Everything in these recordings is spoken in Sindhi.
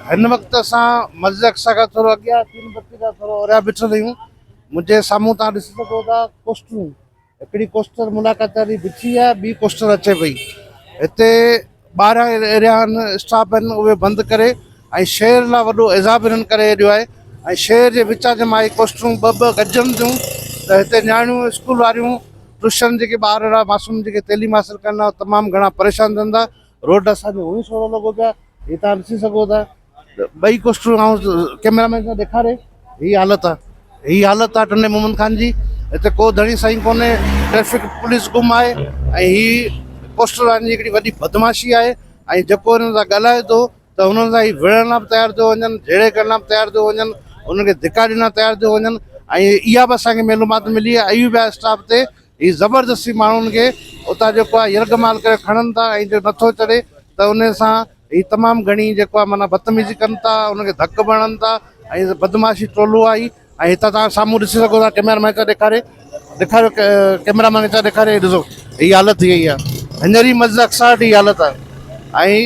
هن وقت اسان مسجد اقصيٰ کان ٿورو اڳيان چين بتي کان ٿورو اوريان بيٺل آهيون. منهنجي سامهون تهان ڏسي سگهو ٿا ڪوسٽرون. هڪڙي ڪوسٽر ملاقات واري بيٺي آهي ٻي ڪوسٽر اچي پئي. هتي ٻاهران اهڙيان اسٽاپ آهن اهي بند ڪري ۽ شهر لا وڏو عذاب هنن ڪري هيڏيو آهي ۽ شهر جي وچان جي مان هي ڪوسٽرون ٻه ٻه گڏجن ٿيون ته هتي نياڻيون اسڪول واريون ٽوشن جيڪي ٻار لا معصوم جيڪي تعليم حاصل ڪن ها تمام گهڻا پريشان ٿين ٿا روڊ اسان کي هونئن سولو لڳو پيو آهي هي توهان ڏسي سگهو ٿا ته ٻئي ڪوسٽون آئون ڪئميرا مين سان ڏيکاري هي حالت آهي هي حالت آهي ٽنڊي محمد خان جي هتي ڪو ڌڻي سائين ڪونهي ٽريفڪ پوليس گم آهي ۽ هي ڪوسٽر وارن جي هڪڙي وڏي بدمعاشي آهي ۽ جيڪو هنن سان ڳالهائي ٿو ته هنن سان هي وڙهڻ لاء به تيار ٿيو وڃن جهيڙي ڪرڻ لاء به تيار ٿيو وڃن هنن کي ڌڪا ڏيڻ لاء تيار ٿيو وڃن ۽ اها به اسان کي معلومات ملي آهي ايوب اسٽاف تي هي زبردستي ماڻهن کي اتان جيڪو آهي يرغمال ڪري کڻن ٿا ۽ جو نٿو چڙهي ته ان سان هي تمام گهڻي جيڪو آهي معنيٰ بدتميزي ڪن ٿا ان کي ڌڪ به هڻن ٿا ۽ بدمعاشي ٽولو آهي هي ۽ هتان توهان سامهون ڏسي سگهو ٿا ڪئميرا مين کي ڏيکاري ڏيکاريو ڪئميرا مين کي ڏيکاري هي ڏسو هي حالت ٿي وئي آهي هينئر ئي مسجد اقصيٰ وٽ هي حالت آهي ۽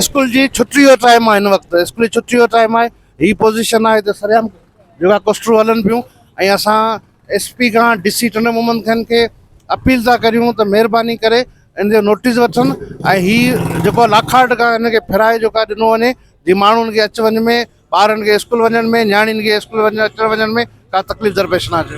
اسڪول جي ڇٽي جو ٽائيم آهي هن وقت اسڪول جي ڇٽي جو ٽائيم آهي هي پوزيشن آهي هتي سرعام جيڪا ڪوسٽون هلن پيون ۽ اسان ايس پي کان ڊي سي ٽنڊو محمد خان کي اپيل ٿا ڪريون ته مهرباني ڪري ان جو نوٽيس وٺن ۽ هي جيڪو لاکاٽ کان هن کي ڦيرائي جيڪو آهي ڏنو وڃي جي ماڻهن کي اچ وڃ ۾ ٻارن کي اسڪول وڃڻ ۾ نياڻين کي اسڪول وڃڻ اچڻ وڃڻ ۾ ڪا تڪليف درپيش نه اچي